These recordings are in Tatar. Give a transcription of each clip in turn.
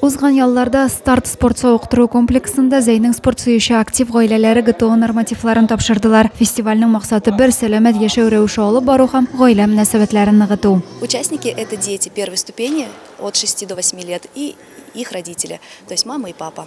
Узган ялларда старт спорт сауыктыру комплексында Зәйнең спорт сөюче актив гаиләләре ГТО нормативларын тапшырдылар. Фестивальнең максаты бер сәламәт яшәү рәвеше алып бару һәм гаилә мөнәсәбәтләрен ныгыту. Участники это дети первой ступени от 6 до 8 лет и их родители, то есть мама и папа.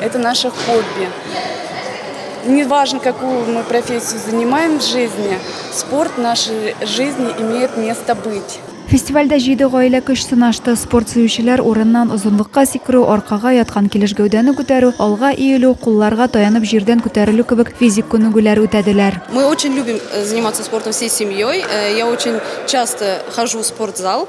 Это наше хобби. Неважно, какую мы профессию занимаем в жизни, спорт в нашей жизни имеет место быть. Фестивальдә җиде гаилә көч сынашты. Спорт сөючеләр урыннан озынлыкка сикерү, аркага яткан килеш гәүдәне күтәрү, алга иелү, кулларга таянып җирдән күтәрелү кебек физик күнегүләр үтәделәр. Мы очень любим э, заниматься спортом всей семьей. Э, я очень часто хожу в спортзал.